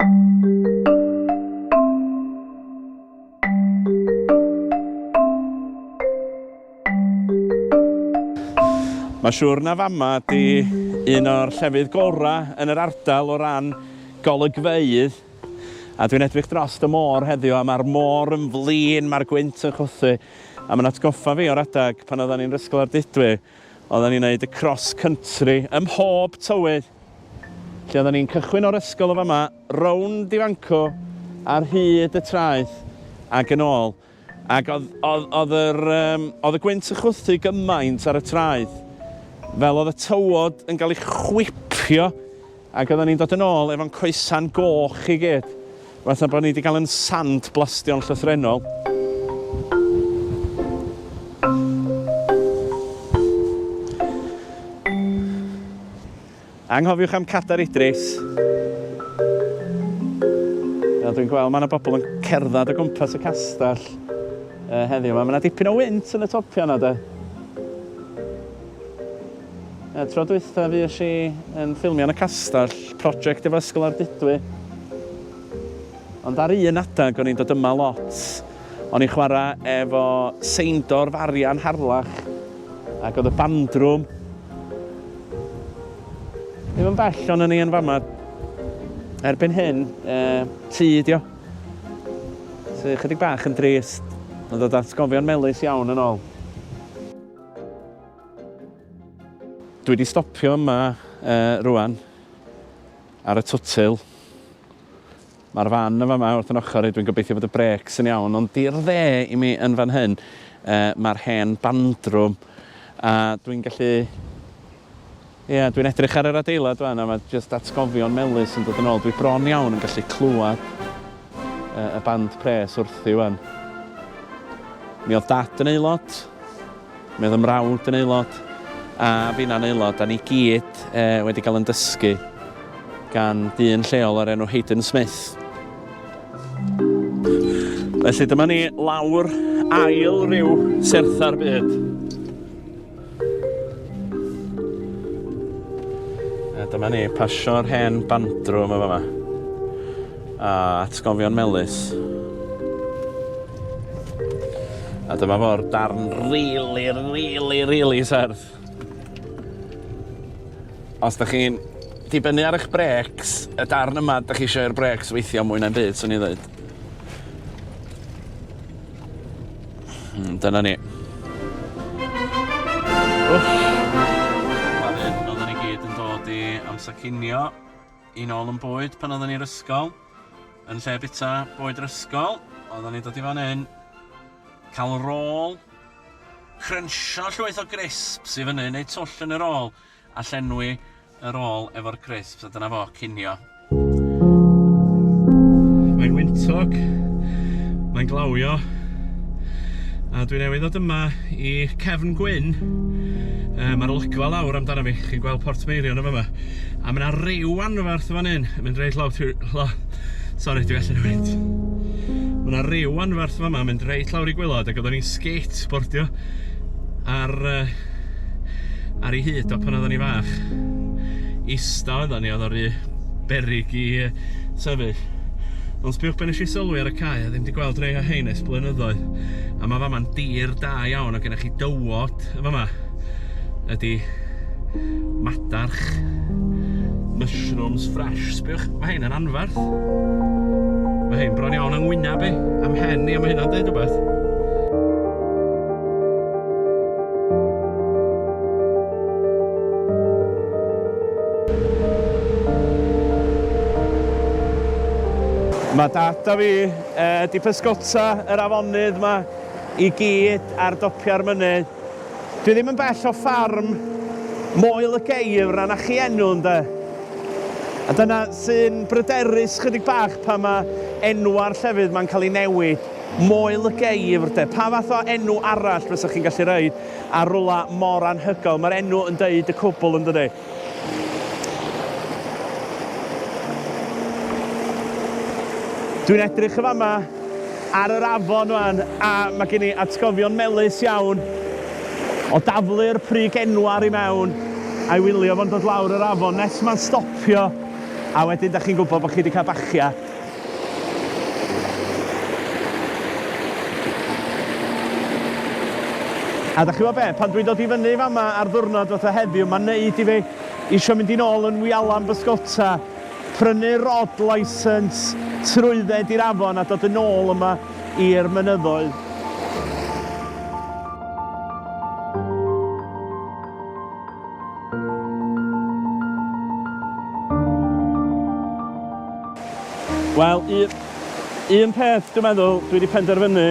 Mae'n siŵr na fama ydi un o'r llefydd gorau yn yr ardal o ran golygfeydd a dwi'n edrych dros y môr heddiw a mae'r môr yn flin, mae'r gwynt yn chwythu a mae'n atgoffa fi o'r adeg pan oeddan ni'n Ysgol Ardudwy Oedden ni'n neud y cross country ym mhob tywydd. Felly oedden ni'n cychwyn o'r ysgol yn fama, rownd i Fanco ar hyd y traeth ac yn ôl. Ac oedd, oedd, oedd yr, um, oedd y gwynt yn chwythu gymaint ar y traeth, fel oedd y tywod yn cael ei chwipio Ac oeddan ni'n dod yn ôl efo'n coesau'n goch i gyd, fatha bod ni 'di cael yn sand-blastio'n llythrennol. Anghofiwch am Cadair Idris. Fel dwi'n gweld, mae 'na bobl yn cerdded o gwmpas y castell heddiw 'ma. Mae 'na dipyn o wynt yn y topiau 'na, de. Y tro dwytha fuesh i yn ffilmio yn y castell, project efo Ysgol Ardudwy. Ond ar un adag o'n i'n dod yma lot. O'n i'n chwarae efo seindor Farian Harlach ac oedd y bandrwm ddim yn bell o'n ni yn fama. Erbyn hyn, e, tŷ dio. Sy chydig bach yn drist, yn dod atgofion melus iawn yn ôl. Dwi wedi stopio yma uh, rwan ar y twtil. Mae'r fan yn fama wrth yn ochr i, dwi'n gobeithio bod y brecs yn iawn, ond di'r dde i mi yn fan hyn, uh, mae'r hen bandrwm, a dwi'n gallu Ia, dwi'n edrych ar yr adeilad wan a ma jyst atgofion melys yn dod yn ôl. Dwi bron iawn yn gallu clywad yy y band pres wrthi wan. Mi oedd dad yn aelod, mi oedd 'y mrawd yn aelod, a finna'n aelod, a ni gyd yy wedi cael yn dysgu gan dyn lleol o'r enw Hayden Smith. Felly dyma ni lawr ail ryw sertha'r byd. A dyma ni, pasio'r hen bandro yma fama. A atgofion melus. A dyma fo'r darn rili, rili, rili serth. Os da chi'n dibynnu ar eich brecs, y darn yma, da chi eisiau i'r brecs weithio mwy na'n byd, swn i'n dweud. Hmm, dyna ni. Wff. Fan hyn, oedden ni gyd yn dod i amser cinio, i nôl yn bwyd pan oedden ni'r ysgol. Yn lle bita bwyd yr ysgol, oedden ni dod i fan hyn, cael rôl, crensio llwyth o grisps i fyny, neu twll yn yr ôl, A llenwi y rôl efo'r crisps a dyna fo, cinio. Mae'n wyntog, mae'n glawio, a dwi newydd ddod yma i Cefn Gwyn. Um, Mae'r olygfa lawr amdano fi, chi'n gweld Port Meirion yn yma. A mae yna ryw anferth fan hyn, mynd reit lawr trwy... Sori, dwi allan o wynt. Mae yna ryw anferth fan yma, mynd reit lawr i gwylod, ac oedden ni'n skateboardio ar uh, ar ei hyd o pan oeddwn i'n fach. Ista oeddwn ni, oedd o rhy beryg i yy sefyll. Ond sbiwch be' nesh i sylwi ar y cae, a ddim 'di gweld rhei o hein ers blynyddoedd, a ma' fama'n dir da iawn, a gennych chi dywod yn fama, ydi madarch, mushrooms fresh. Sbiwch, ma' hein yn anferth. Ma' hein bron iawn yng ngwynab i, a'm mhen i, a ma' hynna'n deud rwbeth. Mae dad a fi wedi pysgota yr afonydd yma i gyd ar dopiau'r mynydd. Dwi ddim yn bell o ffarm Moel y Geifr a 'na chi enw ynde? A dyna sy'n bryderus chydig bach pan mae enwau'r llefydd 'ma'n cael eu newid. Moel y Geifr de? Pa fath o enw arall fysa chi'n gallu rhoi ar rwla mor anhygoel? Mae'r enw yn deud y cwbl yn dydi? Dwi'n edrych yn fama ar yr afon wan a mae gen i atgofion melus iawn o daflu'r prig enwar i mewn a'i wylio fo'n dod lawr yr afon nes mae'n stopio a wedyn da chi'n gwybod bod chi wedi cael bachia. A da chi'bo be, pan dwi'n dod i fyny fama ar ddwrnod fatha heddiw, mae'n neud i fi isio mynd i'n ôl yn wialan bysgota, prynu rod license, trwydded i'r afon a dod yn ôl yma i'r mynyddoedd. Wel, un, un peth dwi'n meddwl dwi wedi penderfynu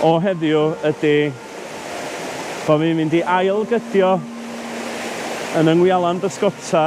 o heddiw ydy bod fi'n mynd i ail gydio yn yng Ngwialan Bysgota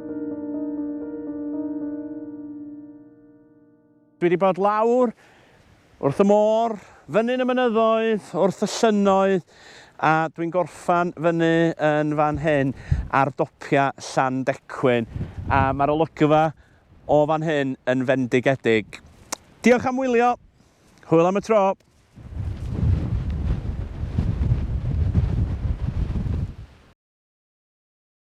Dwi wedi bod lawr wrth y môr, fyny'n y mynyddoedd, wrth y llynnoedd, a dwi'n gorffan fyny yn fan hyn ar dopiau Llandecwyn, a mae'r olygfa o fan hyn yn fendigedig. Diolch am wylio, hwyl am y tro!